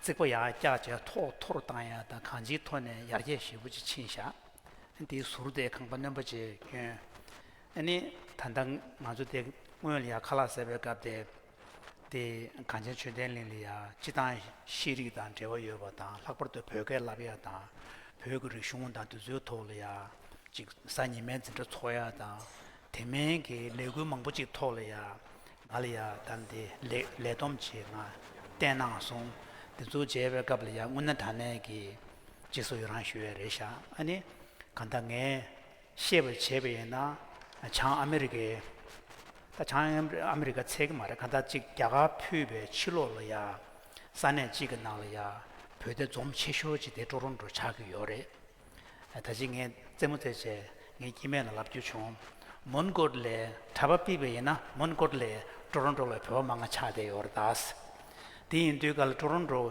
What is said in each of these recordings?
རྩིག་པ་ཡང་བཀྱག་བྱས་ཐོག་མཐོར་བཏང་ཡང་དང་གང་ཅིའི་ཐོག་ནས་ཡར་རྒྱས་ཞེ་བོ་ཅིག་ཕྱིན་བཞག་དེའི་ཟུར་དེ་ཁང་པ་རྣོན་པོ་བཅས་བསྐྱོན། ནི། ད་ལྟ་ང་ཚོ་དེ་སྔོན་ལ་ཡང་ཁ་ལག་ཟེར་བའི་སྐབས་དེ། དེ་གངས་ཅན་ཆོས་ལྡན་གླིང་ལ་ཡང་སྤྱི་བཏང་ཤེས་རིག་དང་འབྲེལ་བ་ཡོད་པ་དང་ལྷག་པར་དུ་བོད་སྐད་བསླབ་ཡག་དང། བོད་ཀྱི་རིག་གཞུང་དང་དུས་ཚོད་ཐོག་ལ་ཡང་ཅིག་གཟའ་ཉི་མའི་འཛིན་གྲྭ་འཚོགས་ཡག་དང། དེ་མིན་གྱི་ལས་འགུལ་མང་པོ་ཅིག་ཐོག་ལ་ཡང་ང་ལ་ཡང་གཏམ་དེ་ལེགས་ལེགས་སྡོམ་བྱེད་ངང་བསྟན་གནང་སོང། འདི་ཚོ་བྱེད་པའི་སྐབས་ལ་ཡང་སྔུན་ན་ད་ནས་ཀྱི་རྗེས་སུ་ཡི་རང་ཞུ་བའི་རེ་བཞག་ཨ་ནི། གང་ལྟར་ངས་ཤེས་པར་བྱས་པ་ཡིན་ན་བྱང་ཨ་མི་རི་ཀའི། ད་བྱང་ཨ་མི་རི་ཀ་ཚད་ཀྱི་མ་རེད་གང་ལྟར་གཅིག་རྒྱ་གར་ཕུད་པའི་ཕྱི་ལོགས་ལ་ཡང་ས་གནས་གཅིག་གི་ནང་ལ་ཡང་བོད་དེ་འཛོམས་ཆེ་ཤོས་གཅིག་དེ་ཀྲོ་རོན་ཀྲོ་ཆགས་ཀྱི་ཡོད་རེད། ད་ཅི་ངས་རྩེད་མོ་རྩེད་བྱས་ངའི་སྐྱེས་དམན་ལ་ལབ་རྒྱུ་བྱུང། མོན་གྷོ་ལའི་གྲྭ་པ་པི་བེ་ཡིན་ན་མོན་གྷོ་ལའི་ཀྲོ་རོན་ཀྲོ་ལ་བོད་པ་མང་ང་ཆགས་བསྡད་ཡོད་རེད་ད། དེ་ཡིན་དུས་ག་ལ་ཀྲོ་རོན་ཀྲོ་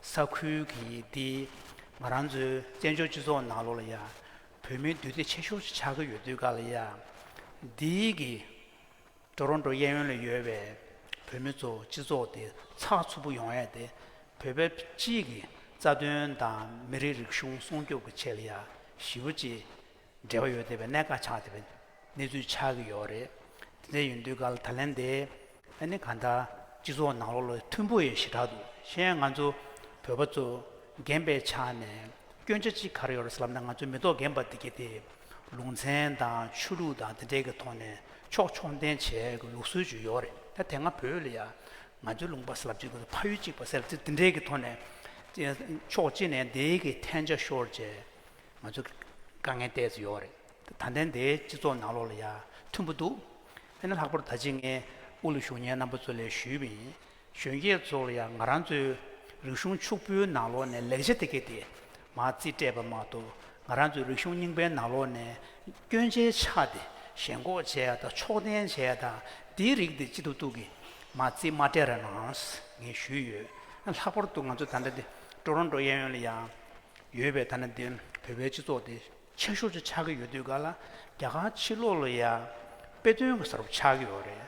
ས་ཁུལ་གྱི་འདི་ང་རང་ཚོའི་བཙན་བྱོལ་སྤྱི་ཚོགས་ནང་ལོག་ལ་ཡ། བོད་མིའི་འདུས་སྡེ་ཆེ་ཤོས་ཤིག་ཆགས་ཀྱི་ཡོད་དུས་ག་ལ་ཡ། འདིའི་གི། ཀྲོ་རོན་ཀྲོ་གཡས་གཡོན་ལ་ཡོད་པའི་བོད་མི་ཚོ་སྤྱི་ཚོགས་དེ་ཚགས་ཚུད་པོ་ཡོང་ཡས་དེ་བོད་པའི་སྤྱིའི་གི་རྩ་དོན་དང་མི་རིགས་རིག་གཞུང་སྲུང་སྐྱོབ་གི་ཆེད་ལ་ཡ་ཞི་བོ་ཅི་འབྲེལ་བ་ཡོད་བསྡད་པའི་གནད་འགག་ཆགས་བསྡད་པའི་གནས་ཚུལ་ཆགས་གི་ཡོད་རེད་དེ་འདྲ་ཡོད་འདུས་གལ་ད་ལན་དེ། ཨ་ནི་གང་ལྟར་སྤྱི་ཚོགས་ནང་ལོག་ལོ་མཐུན་པོ་ཡོད་ཞེ་དྲག་འདུག་གཞན་ཡང་ང་ཚོ་བོད་པ་ཚོ་རྒན་པའི་ཆ་ནས་སྐྱོན་ཆ་ཅི་ག་རེ་ཡོད་རེད་ཟེར་ལབ་ན་ང་ཚོའི་མེ་ཏོག་རྒན་པ་དེ་གི་དེ་ལུང་ཚན་དང་ཆོས་ལུགས་དང་དེ་འབྲེལ་གྱི་ཐོག་ནས་ཕྱོགས་ཕྱོགས་འཐེན་བྱས་ཀྱི་ལུགས་སྲོལ་ཅིག་ཡོད་རེད་ད་དེ་སྔ་བོད་ལ་ཡང་ང་ཚོའི་ལུང་པ་ཟབ་ཅིག་གིས་ཕ་ཡུལ་གཅིག་པ་ཟེར་ཚེ་དེ་འབྲེལ་གྱི་ཐོག་ནས་ཕྱོགས་གཅིག་ནས་དེའི་གི་འཐེན་ཆ་ཤོར་རྗེས་ང་ཚོ་དཀའ་ངལ་བལྟས་ཚོད་ཡོད་རེད་ད་དེ་འདའི་སྤྱི་ཚོགས་ནང་ལོགས་ལ་ཡང་མཐུན་པོ་འདུག་དེ་ནི་ལྷག་པར་ད་ཅི་ངས་དབུ་ལུ་གཞུང་གཉེར་རྣམ་པ་ཚོ་ལས་ཞུས་པ་ཡིན་གཞོན་སྐྱེས་ཚོ་ལ་ཡང་ང་རང་ཚོའི་རིག་གཞུང་ཕྱུག་པོའི་ནང་ལོགས་ནས་ལེགས་ཆ་དེ་གས་དེ་མ་རྩིས་སྤྲད་པ་མ་གཏོགས་ང་རང་ཚོའི་རིག་གཞུང་རྙིང་པའི་ནང་ལོགས་ནས་སྐྱོན་ཆའི་ཆ་དེ་ཞེན་ཁོག་བྱས་ཡ་དང་ཕྱོགས་འཐེན་བྱས་ཡ་དང་དེའི་རིགས་དེ་ཅི་ཐུབ་ཐུབ་ཀྱིས་མ་རྩིས་མ་སྤྲད་ར་གནང་ངེས་ཞུས་ཡོད། ལྷག་པར་དུ་ང་ཚོ་ད་ལྟ་འདི་ཀྲོ་རོན་ཀྲོ་གཡས་གཡོན་ལ་ཡང་ཡོད་པས་ད་ནི་འདི་བོད་པའི་སྤྱི་ཚོགས་དེ་ཆེ་ཤོས་སུ་ཆགས་ཀྱི་ཡོད་དུས་ག་ལ་རྒྱ་གར་ཕྱི་ལོགས་ལ་ཡང་དཔེ་སྟོན་གྱི་ས་རུབ་ཆགས་ཀྱི་ཡོད་རེད།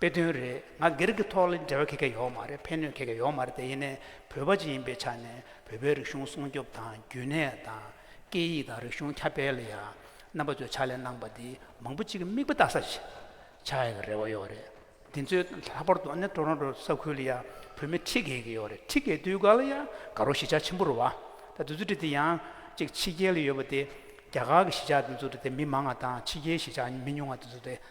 དཔེ་དོན་རེད་ང་སྒེར་གྱི་ཐོག་ལ་འབྲེལ་བ་གེ་གེ་ཡོག་མ་རེད་ཕན་གནོད་གེ་གེ་ཡོག་མ་རེད་དེ་ཡིན་ནས་བོད་པ་ཅིག་ཡིན་པའི་ཆ་ནས་བོད་པའི་རིག་གཞུང་སྲུང་སྐྱོབ་དང་རྒྱུན་གནས་དང། སྐད་ཡིག་དང་རིག་གཞུང་ཁྱབ་སྤེལ་ལ་ཡང་རྣམ་པ་ཚོས་ཕྱག་ལས་གནང་པ་འདི་མང་པོ་ཅིག་གི་མིག་དཔེ་བལྟ་ས་ཞིག་ཆགས་ཡོད་པའི་རེ་བ་ཡོད་རེད། འདི་ཚོའི་ལྷག་པར་དུ་ནི Toronto ས་ཁུལ་ལ་ཡང་བོད་མི་ཁྲི་གེ་གེ་ཡོག་རེད་ཁྲི་གེ་དུས་འགའ་ལ་ཡང་དགའ་རོགས་གཞིས་ཆགས་ཆེན་པོ་རུ་བ། ད་དུས་ཚོད་དྲི་དེ་ཡང་ཅིག་ཕྱི་རྒྱལ་ལ་ཡོད་པ་དེ་རྒྱ་གར་གྱི་གཞིས་ཆགས་དུས་ཚོད་དྲི་དེ་མི་མང་ང་དང་ཕྱི་རྒྱལ་གཞིས་ཆགས་མི་ཉུང་ང་དུས་ཚོད་དྲི་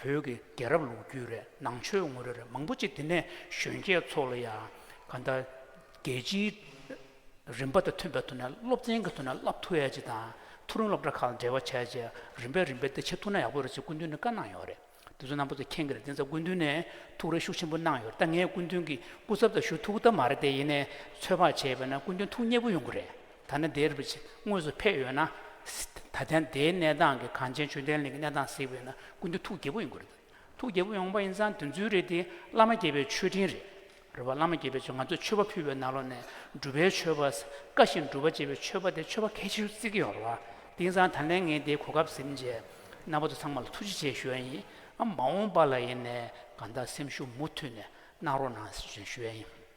བོད་ཀྱི་རྒྱལ་རབས་ལུགས་རྒྱུད་རེད་ནང་ཆོས་ངོ་རེ་རེ་མང་པོ་གཅིག་དེ་ནས་གཞོན་སྐྱེས་ཚོ་ལ་ཡང་ག་འདྲ་རྒྱལ་སྤྱིའི་རིམ་པ་དང་མཐུན་པའི་ཐོག་ནས་སློབ་ཚན་གྱི་ཐོག་ནས་བསླབ་ཐུ་ཡས་ཅིག་དང་ཐུ་རུང་སློབ་གྲྭ་ཁག་ལ་འབྲེལ་བ་བྱས་རྗེས་རིམ་པས་རིམ་པས་དེ་བྱེད་ཐུབ་ན་ཡག་པོ་རེད་ཅེས་སྐུ་མདུན་ནས་བཀའ་གནང་ཡོད་རེད་དེ་ཚོ་རྣམ་པ་ཚོ་མཁྱེན་གྱི་རེད་དེ་ཚོ་སྐུ་མདུན་ནས་ཐུགས་རེ་ཤུགས་ཆེན་པོ་གནང་ཡོད་རེད་ད་ངས་སྐུ་མདུན་གྱི་སྐུ་ཚབ་དང་ཞུ་ཐུག་ཐབས་མ་རེད་དེ་ཡིན་ནས་ཚོད་དཔག་བྱས་པས་ན་སྐུ་མདུན་ཐུགས་མཉེས་པོ་ཡོང་གི་རེད། ཐ་ན་དེར་བྱས་དངོས་སུ་ཕེབས་ཡོད་ན། ད་ལྟའི་དེའི་གནས་སྟངས་ཀྱི་གངས་ཅན་ཆོས་ལྡན་གླིང་གི་གནས་སྟངས་གཟིགས་པས་ན་ཀུན་ཏུ་ཐུགས་དགྱེས་པོ་ཡོང་གི་རེད། ཐུགས་དགྱེས་པོ་ཡོང་པ་ཡིན་ཙང་དོན་ཚུལ་རེད་དེ་བླ་མ་དགྱེས་པའི་མཆོད་སྤྲིན་རེད། རེད་བ། བླ་མ་དགྱེས་པའི་མཆོད་ང་ཚོས་མཆོད་པ་ཕུལ་བའི་ནང་ལོགས་ནས་སྒྲུབ་པའི་མཆོད་པ། བཀའ་བཞིན་སྒྲུབ་པ་ཅེས་པའི་མཆོད་པ་དེ་མཆོད་པ་གལ་ཆེ་ཤོས་བརྩི་གི་ཡོད་རེད་བ། དེ་ཡིན་ཙང་ད་ལན་ངས་དེའི་གོ་སྐབས་ཟིན་རྗེས། རྣམ་པ་ཚོ་ཚང་མ་ལ་ཐུགས་རྗེ་ཆེ་ཞུ་ཡ་ཡིན། ཨ་མ་འོངས་པ་ལ་ཡིན་ནས་གང་ལྟར་སེམས་ཤུགས་མུ་མཐུད་ནས་གནང་རོགས་གནང་ཞུ་ཡ་ཡིན།